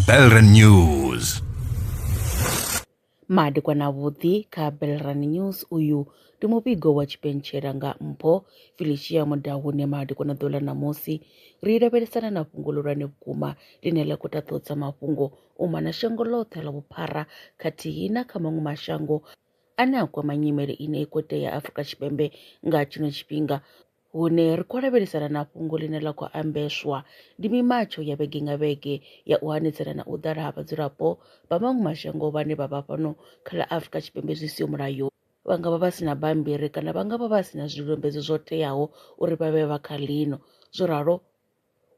Belren News. madekwa na vhuḓi kha belran news uyu ndi muvhigo wa tshipentshela nga mpho felicia mudahune madekwa na ḓola ṋamusi ri lavhelesana na fhungo ḽihulwane vhukuma ḽine ḽa khou taṱodza mafhungo u mona shango ḽoṱhe ḽa vhuphara khathihi na kha maṅwe mashango ane a kwama nyimele ine ikote ya afrika tshipembe nga tshino tshifhinga Hune ri khou lavhelesana na fhungo ḽine ḽa khou ambeswa ndi mimatsho ya vhege nga vhege ya u hanedzana na u ḓala ha vhadzulapo vha maṅwe mashango vhane vha vha fhano kha ḽa Afrika Tshipembe zwi siho mulayo vha nga vha vha si na bammbiri kana vha nga vha vha si na zwidodombedzwa zwo teaho uri vha vhe vha kha ḽino zwo ralo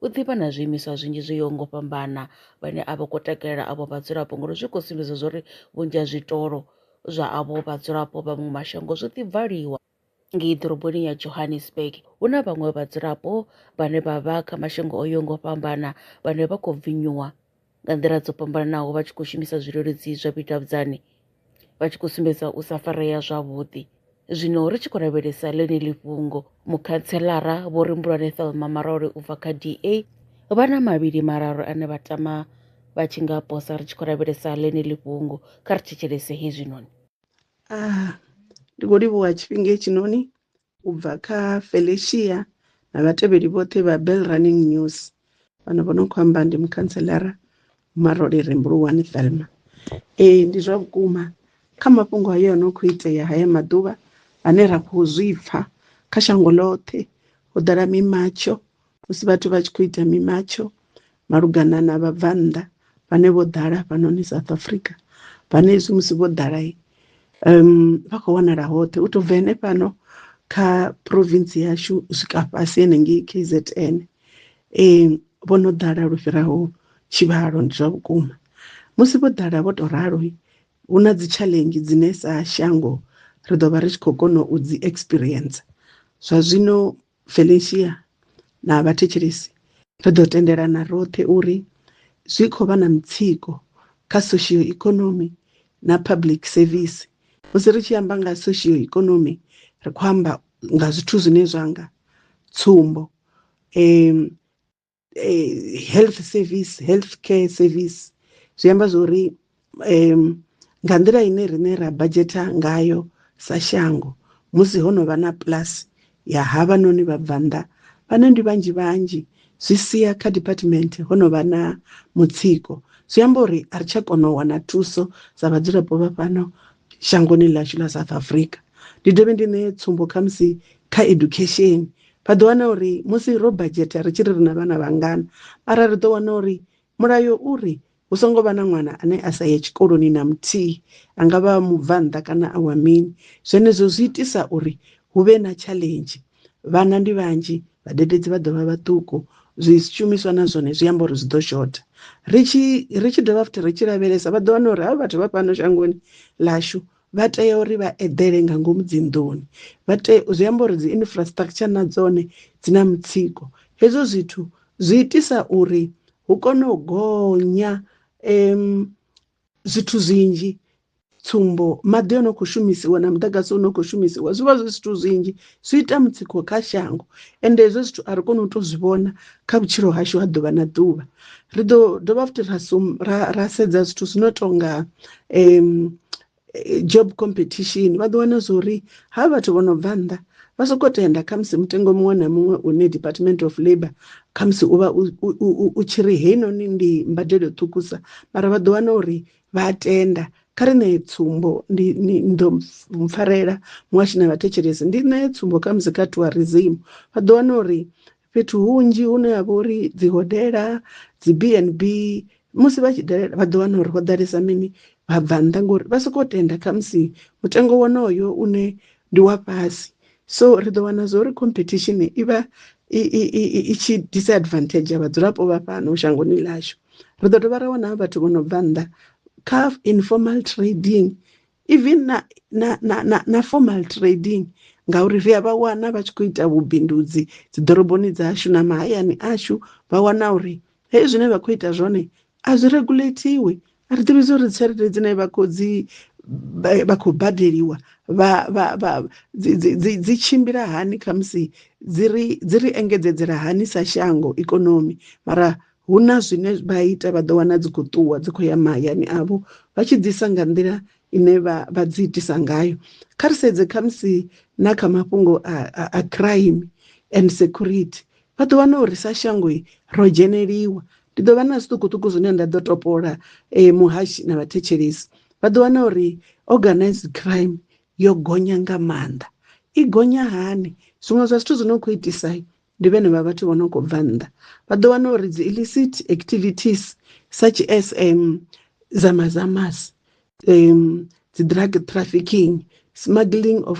u ḓivha na zwiimiswa zwinzhi zwo yaho ngo fhambana vhane a vha khou takalela avho vhadzulapo ngori zwi khou sumbedza zwa uri vhunzhi ha zwitolo zwa avho vhadzulapo vha maṅwe mashango zwo ḓi valiwa ngei ḓoroboni ya johannesburg hu na vhaṅwe vhadzulapo vhane vha vha kha mashango o yo ngo fhambana vhane vha khou bvinyuwa nga nḓila dzo fhambananaho vha tshi khou shumisa zwileludzi zwa vhudavhudzani vha tshi khou sumbedza u sa farea zwavhuḓi zwino ri tshi khou lavhelesa ḽeneli fhungo mukhanselara vho ri mbulwane thelma marole u bva kha da vha na mavhili mararu ane vha tama vha tshi nga posa ri tshi khou lavhelesa ḽeneli fhungo kha ri thetshelese hezwinoni ah ndi khou livhuwa tshifhinga hetshinoni u bva kha felicia na vhatevheli vhoṱhe vha bell running news fhano vho no khou amba ndi mukhantselara marole rembuluwani thelma ee ndi zwa vhukuma kha mafhungo hayo no khou itea haya maḓuvha ane ra khou zwi pfha kha shango ḽoṱhe ho ḓala mimatsho Musi vhathu vha tshi khou ita mimatsho malugana na vhabvannḓa vhane vho ḓala hafhanoni South Africa vhane hezwi musi vho ḓala um vha khou wanala hoṱhe u tou bva henefhano kha province yashu u swika fhasi henengei KZN um vho no ḓala lu fhiraho tshivhalo ndi zwa vhukuma musi vho ḓala vho tou ralo hu na dzi challenge dzine sa shango ri ḓo vha ri tshi khou kona u dzi experience zwa zwino Felicia na vhathetshelesi ri ḓo tendelana roṱhe uri zwi khou vha na mutsiko kha soshio-ikonomi na public service. Musi ri tshi amba nga soshio-ikonomi ri khou amba nga zwithu zwine zwa nga tsumbo, eh, health service health care service zwi amba zwa uri um nga nḓila ine rine ra badzheta ngayo sa shango musi ho no vha na plus ya havha noni vha bva nnḓa vhane ndi vhanzhi vhanzhi zwi sia kha department ho no vha na mutsiko zwi amba uri a ri tsha kona u wana thuso sa vhadzulapo vha fhano shangoni ḽashu ḽa south africa ndi dovhe ndi ṋee tsumbo khamusi kha education Vha ḓo wana uri musi ro badzhetha ri tshi ri ri na vhana vhangana, mara ri ḓo wana uri mulayo u ri hu songo vha na ṅwana ane a sa ye tshikoloni na muthihi, a nga vha a mubvannḓa kana a wa mini. Zwenezwo zwi itisa uri hu vhe na tshaḽenzhi, vhana ndi vhanzhi, vhadededzi vha ḓo vha vhaṱuku, zwishumiswa na zwone zwi amba uri zwi ḓo shotha. Ri tshi ri tshi dovha futhi ri tshi lavhelesa vha ḓo wana uri havha vhathu vha fhano shangoni ḽashu vha tea uri vha eḓele nga ngomu dzinḓuni vha tea zwi amba uri dzi infrastructure na dzone dzi na mutsiko hezwo zwithu zwi itisa uri hu kone u gonya um zwithu zwinzhi tsumbo maḓi o no kho shumisiwa na muḓagasi u no kho shumisiwa zwi vha zwi zwithu zwinzhi zwi ita mutsiko kha shango ende hezwo zwithu a ri koni u to zwi vhona kha vhutshilo hashu ha ḓuvha na ḓuvha ri ḓo dovha futhi ra sum ra ra sedza zwithu zwi no tonga um job competition vha ḓo wana zwori ha vhathu vho no bva nnḓa vha soko tenda kha musi mutengo muṅwe na muṅwe une department of labour kha musi u vha u tshi ri heinoni ndi mbadelo ṱhukusa mara vha ḓo wana uri vha a tenda kha ri ṋee tsumbo ndi ndo mpfarela muhashi na vhathetshelesi ndi ṋee tsumbo kha musi kha tourism vha ḓo wana uri fhethu hunzhi hune ha vha uri dzi hodela dzi b n b musi vha tshi dalela vha ḓo wana uri ho ḓalesa mini vha bva nnḓa ngori vha sokou tenda khamusi mutengo wonoyo une ndi wa fhasi so ri ḓo wana zwo uri competition i vha i tshi disadvantage ya vhadzulapo vha fhano shangoni ḽashu ri ḓo dovha ra wana vhathu vho no bva nnḓa kha informal trading even na na na na formal trading ngauri ri a vha wana vha tshi khou ita vhubindudzi dzi ḓoroboni dzashu na mahayani ashu vha wana uri hei zwine vha khou ita zwone a zwi regulatiwi a ri ḓivhi zwori tshelede dzine vha khou dzi vha khou badeliwa vha vha vha dzi dzi tshimbila hani khamusi dzi ri dzi ri engedzedzela hani sa shango ikonomi mara hu na zwine vha ita vha ḓo wana dzi khou ṱuwa dzi khou ya mahayani avho vha tshi ḓisa nga nḓila ine vha vha dzi itisa ngayo kha ri sedze khamusi na kha mafhungo a, a, a crime and security vha ḓo wana uri sa shango ro dzheneliwa ndi ḓo vha na zwiṱukuṱuku zwine nda ḓo topola eh, muhashi na vhathetshelesi vha ḓo wana uri organized crime yo gonya nga maanḓa i gonya hani zwiṅwe zwa zwithu zwi no khou itisa ndi vhene vha vhathu vho no khou bva nnḓa vha ḓo wana uri dzi illicit activities such as um, zamazamas um, dzi drug trafficking smuggling of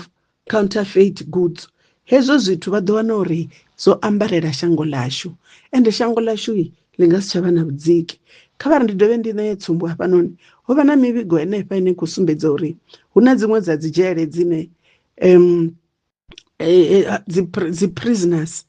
counterfeit goods hezwo zwithu vha ḓo wana uri zwo ambarela shango ḽashu ende shango ḽashu ḽi nga si tsha vha na vhudziki kha vha ri ndi dovhe ndi ṋeye tsumbo hafhanoni ho vha na mivhigo henefha ine khou sumbedza uri hu na dziṅwe dza dzi dzhele dzine um dzi dzi prisoners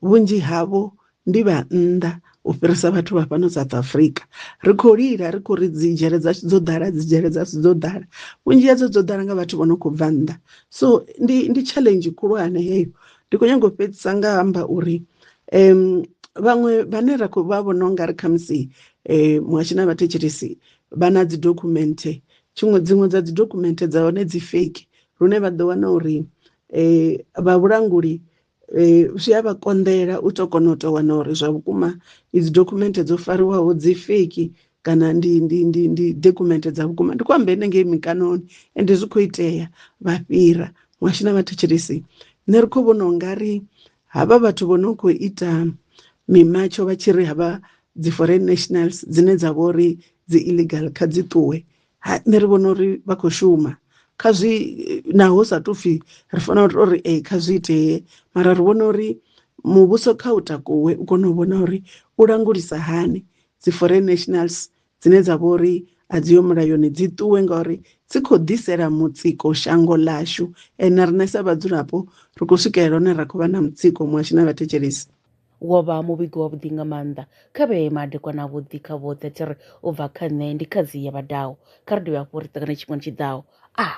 vhunzhi havho ndi vha nnḓa u fhirisa vhathu vha fhano South Africa ri khou lila ri khou ri dzi dzhele dzashu dzo ḓala dzi dzhele dzashu dzo ḓala vhunzhi hadzo dzo ḓala nga vhathu vho no khou bva nnḓa so ndi ndi challenge khulwane heyo ndi khou nyanga u fhedzisa nga amba uri um vhaṅwe vhane ra khou vha vhona ungari khamusi um muhashi na vhathetshelesi vha na dzi dokhumenthe tshiṅwe dziṅwe dza dzi dokhumenthe dza hone dzi fake lune vha ḓo wana uri um vha vhulanguli zwi a vha konḓela u tou kona u tou wana uri zwa vhukuma idzi dokhumenthe dzo fariwaho dzi feki kana ndi ndi ndi ndi dokhumenthe dza vhukuma ndi khou amba ene ngei mikanoni ende zwi khou itea vha fhira muhasho na vhathetshelesi nṋe ri khou vhona u nga ri havha vhathu vho no khou ita mimatsho vha tshi ri havha dzi foreign nationals dzine dza vha uri dzi illegal kha dzi ṱuwe ha nṋe ri vhona uri vha khou shuma kha zwi naho sa tou pfhi ri fanela u tou ri ee kha zwi itee mara ri vhona uri muvhuso kha u takuwe u kone u vhona uri u langulisa hani dzi foreign nationals dzine dza vha uri a dzi yo mulayoni dzi ṱuwe ngauri dzi khou ḓisela mutsiko shango ḽashu and na riṋe sa vhadzulapo ri khou swikelela hone ra khou vha na mutsiko muhasho na vhathetshelesi Wo vha muvhigo wavhuḓi nga maanḓa. Kha vhe madekwana avhuḓi kha vhoṱhe a tshi ri u bva kha nṋe ndi khadzi ya vhadaho. Kha ri dovhe hafhu ri ṱangane tshifhingani tshi ḓaho. A.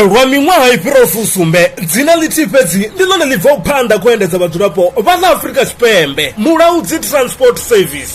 Lwa miṅwaha i fhiraho fusumbe, dzina ḽithihi fhedzi ndi ḽone ḽi bvaho phanḓa kha u endedza vhadzulapo vha ḽa Afrika Tshipembe, Mulaudzi Transport Service.